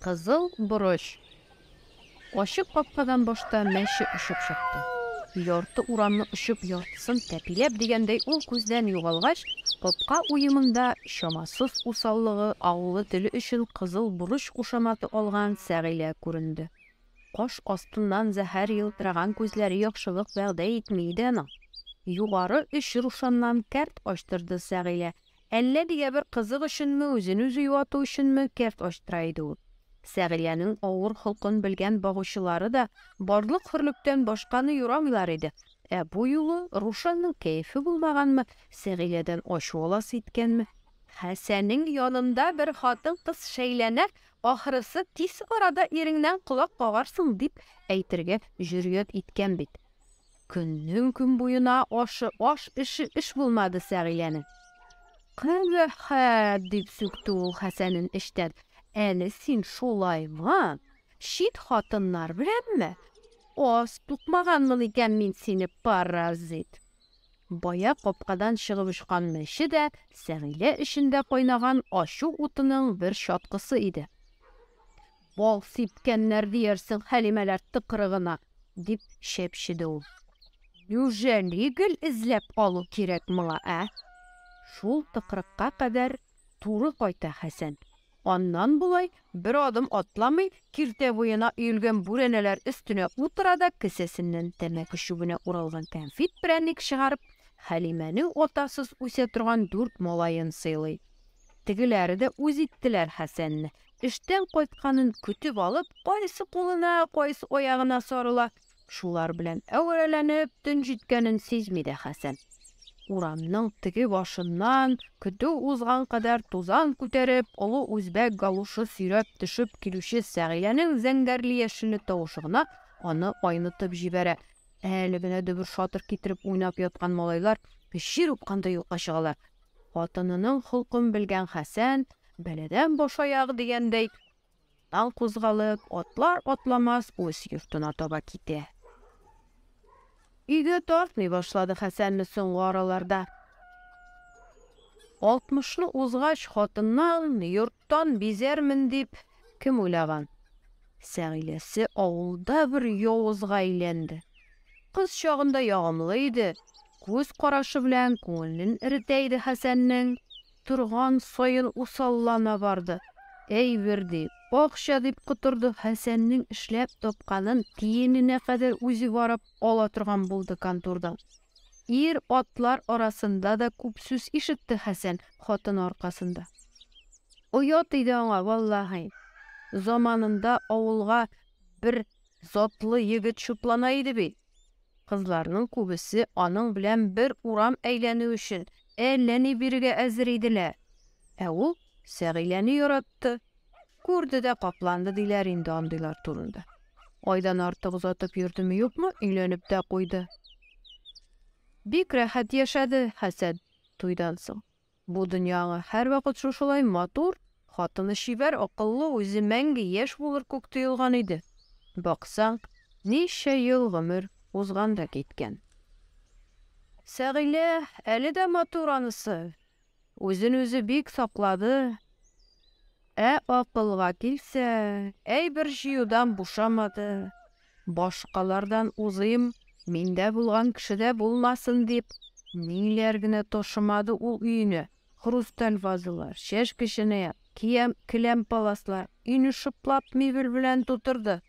Кызыл борыч. Ачык капкадан башта мәче очып чыкты. Ярты урамны очып, яртысын тәпиләп дигәндәй ул күздән югалгач, капка уемында чамасыз усаллыгы авылы теле өчен кызыл борыч кушаматы алган Сәгыйлә күренде. Каш астыннан зәһәр елтыраган күзләре яхшылык вәгъдә итми иде аның. Югары оч рушаннан кәрт ачтырды Сәгыйлә. Әллә нигә бер кызык өченме, үзен-үзе юату өченме, кәрт ачтыра иде ул. Сәгыйләнең авыр холкын белгән багучылары да барлык-хөрлектән башканы юрамыйлар иде. Ә бу юлы Рушанның кәефе булмаганмы, Сәгыйләдән ачу аласы иткәнме? Хәсәнең янында бер хатын-кыз шәйләнә, Ахрысы, тиз арада иреңнән колак кагарсың, дип әйтергә җөрьәт иткән бит. Көннең-көн буена ашы аш, эше эш булмады Сәгиләнең. Кабәхәт! дип сүкте ул Хәсәнен эчтән. Әле син шулаймы? Чит хатыннар беләнме? Аз тукмаганмын икән мин сине, паразит! Бая капкадан чыгып очкан мәче дә Сәгыйлә эчендә кайнаган ачу утының бер чаткысы иде. Бал сипкәннәр диярсең Хәлимәләр тыкрыгына! дип чәпчеде ул. Нюжәли гел эзләп алу кирәк моңа, ә? Шул тыкрыкка кадәр туры кайта Хәсән. Аннан болай, бер адым атламый, киртә буена өелгән бүрәнәләр өстенә утыра да кесәсеннән тәмәке чүбенә уралган кәнфит-прәник чыгарып, Хәлимәнең атасыз үсә торган дүрт малаен сыйлый. Тегеләре дә үз иттеләр Хәсәнне. Эштән кайтканын көтеп алып, кайсы кулына, кайсы аягына сарыла, Шулар белән әверәләнеп, төн җиткәнен сизми дә Хәсән. Урамның теге башыннан, көтү узган кадәр тузан күтәреп, олы үзбәк галушы сөйрәп төшеп килүче Сәгиләнең зәңгәрле-яшелле тавышы гына аны айнытып җибәрә. Әле генә дөбер-шатыр китереп уйнап яткан малайлар җир упкандай юкка чыгалар. Хатынының холкын белгән Хәсән, бәладән башаяк дигәндәй, Тан кузгалып, атлар-атламас үз йортына таба китә. Өйгә тартмый башлады Хәсәнне соңгы араларда. Алтмышны узгач, хатыннан, йорттан бизәрмен дип, кем уйлаган? Сәгыйләсе авылда бер явызга әйләнде. Кыз чагында ягымлы иде, күз карашы белән күңелен эретә иде Хәсәннең. торган саен усаллана барды. Әйбер ди, акча дип котырды, Хәсәннең эшләп тапканын тиененә кадәр үзе барып ала торган булды контордан. Ир-атлар арасында да күп сүз ишетте Хәсән хатыны аркасында. Оят иде аңа, валлаһи. Заманында авылга бер затлы егет чутлана иде бит. Кызларның күбесе аның белән бер урам әйләнү өчен әллә ни бирергә әзер иделәр. Ә ул Сәгыйләне яратты. Күрде дә капланды, диләр инде андыйлар турында. Айдан артык озатып йөрдеме-юкмы, өйләнеп тә куйды. Бик рәхәт яшәде Хәсән туйдан соң. Бу дөнья аңа һәрвакыт шушылай матур, хатыны чибәр, акыллы, үзе мәңге яшь булыр күк тоелган иде. Баксаң, ничә ел гомер узган да киткән. Сәгыйлә әле дә матур анысы, үзен үзе бик саклады. Ә акылга килсә, әйбер җыюдан бушамады. Башкалардан узыйм, миндә булган кешедә булмасын дип, ниләр генә ташымады ул өенә, хрусталь вазалар, чәшке-чынаяк, киям, келәм-паласлар, өйне шыплап мебель белән тутырды.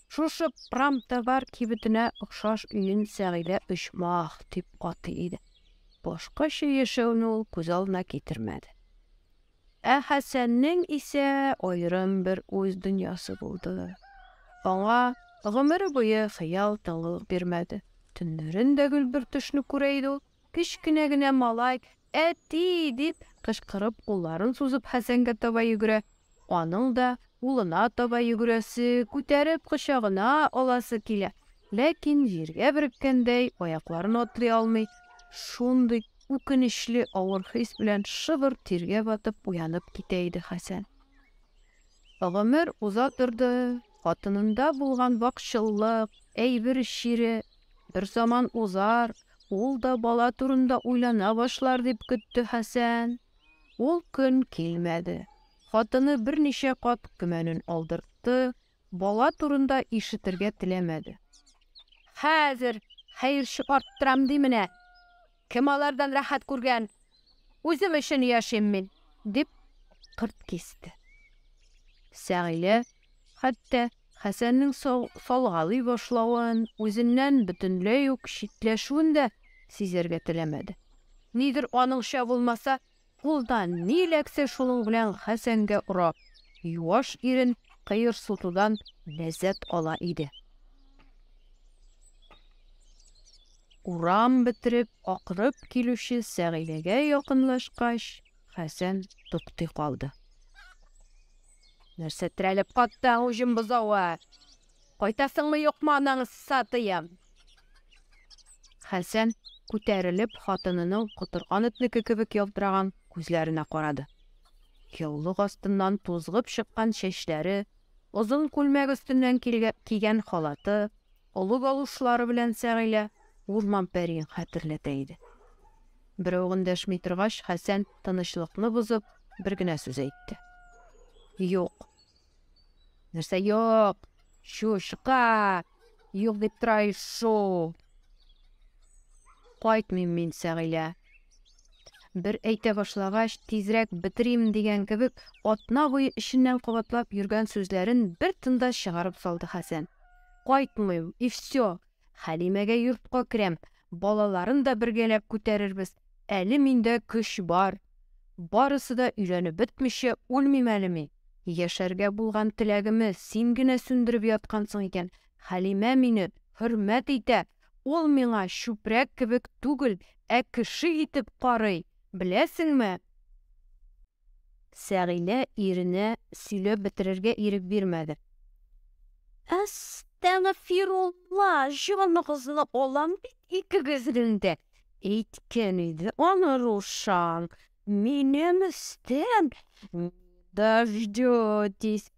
Шушы промтовар кибетенә охшаш өен Сәгыйдә оҗмах дип атый иде. Башкача яшәүне ул күз алдына китермәде. Ә Хәсәннең исә аерым бер уй дөньясы булды. Аңа гомере буе хыял тыңлылык бирмәде. Төннәрен дә гел бер төшне күрә иде ул. Кечкенә генә малай, Әти! дип кычкырып, кулларын сузып Хәсәнгә таба йөгерә. Аның да улына таба йөгерәсе, күтәреп кочагына аласы килә. Ләкин җиргә береккәндәй, аякларын атлый алмый. Шундый. Үкенечле авыр хис белән шыбыр тиргә батып уянып китә иде Хәсән. Гомер уза торды, хатынында булган вакчыллык, әйбер чире берзаман узар, ул да бала турында уйлана башлар дип көтте Хәсән. Ул көн килмәде. Хатыны берничә кат көмәнен алдыртты, Бала турында ишетергә теләмәде. Хәзер хәер чыгарттырам ди менә. Кем алардан рәхәт күргән? Үзем өчен яшим мин, дип кырт кисте. Сәгилә хәтта Хәсәннең салгалый башлавын, үзеннән бөтенләй үк читләшүен дә сизәргә теләмәде. Нидер аныңча булмаса, Кулда ни эләксә, шуның белән Хәсәнгә орап, юаш ирен кыерсытудан ләззәт ала иде. Урам бетереп, акырып килүче Сәгыйләгә якынлашкач, Хәсән туктый калды. Нәрсә терәлеп каттың, уҗым бозавы? Кайтасыңмы, юкмы анаңы сатыем? Хәсән, күтәрелеп, хатынының котырган этнеке кебек ялтыраган күзләренә карады. Яулык астыннан тузгып чыккан чәчләре, озын күлмәк өстеннән кигән халаты, олы галушлары белән Сәгыйлә урман пәриен хәтерләтә иде. Берәү эндәшми торгач, Хәсән, тынычлыкны бозып, бер генә сүз әйтте. Юк. Нәрсә юк? Чушка! Юк дип тора ишу. Кайтмыйм мин, Сәгыйлә. Бер әйтә башлагач, тизрәк бетерим дигән кебек, атна буе эченнән кабатлап йөргән сүзләрен бер тында чыгарып салды Хәсән. Кайтмыйм, и все, Хәлимәгә йортка керәм, балаларын да бергәләп күтәрербез, әле миндә көч бар. Барысы да өйләнеп бетмичә үлмим әле мин. Яшәргә булган теләгемне син генә сүндереп яткансың икән. Хәлимә мине хөрмәт итә, ул миңа чүпрәк кебек түгел, ә кеше итеп карый, беләсеңме? Сәгилә иренә сөйләп бетерергә ирек бирмәде. Әстәгъфирулла, җаныгызны алам бит икегезнең дә! Әйткән иде аны Рушан, минем өстән не дождетесь!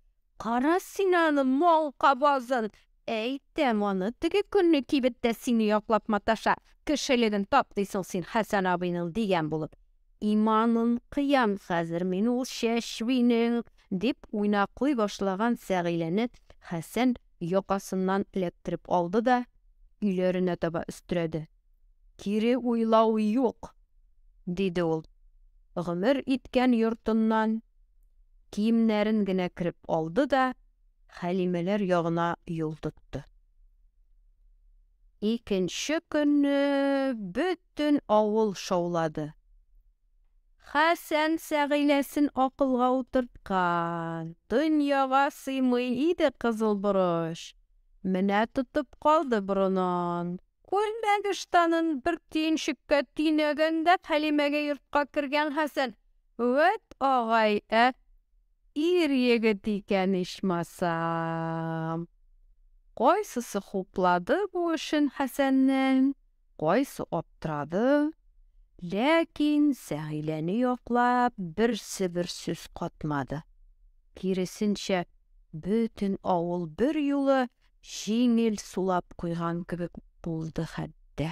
Кара син аны, маңка базын! Әйтәм аны, теге көнне кибеттә сине яклап маташа, кешелеген тап дисең син Хәсән абыйның, дигән булып. Иманын кыям хәзер мин ул чәчбинең! дип уйнаклый башлаган Фәгыйләне Хәсән якасыннан эләктереп алды да, өйләренә таба өстерәде. Кире уйлау юк, диде ул, гомер иткән йортыннан киемнәрен генә кереп алды да Хәлимәләр ягына юл тотты. Икенче көнне бөтен авыл шаулады. Хәсән Сәгыйләсен акылга утырткан, дөньяга сыймый иде кызыл борыч, менә тотып калды борынын. Күлмәк ыштанын бер төенчеккә төйнәгәндә Хәлимәгә йортка кергән Хәсән, Вәт агай, ә ир егет икән ичмасам! Кайсысы хуплады бу эшен Хәсәннең, кайсы аптырады. Ләкин Сәгиләне яклап берсе бер сүз катмады. Киресенчә, бөтен авыл берьюлы җиңел сулап куйган кебек булды хәтта.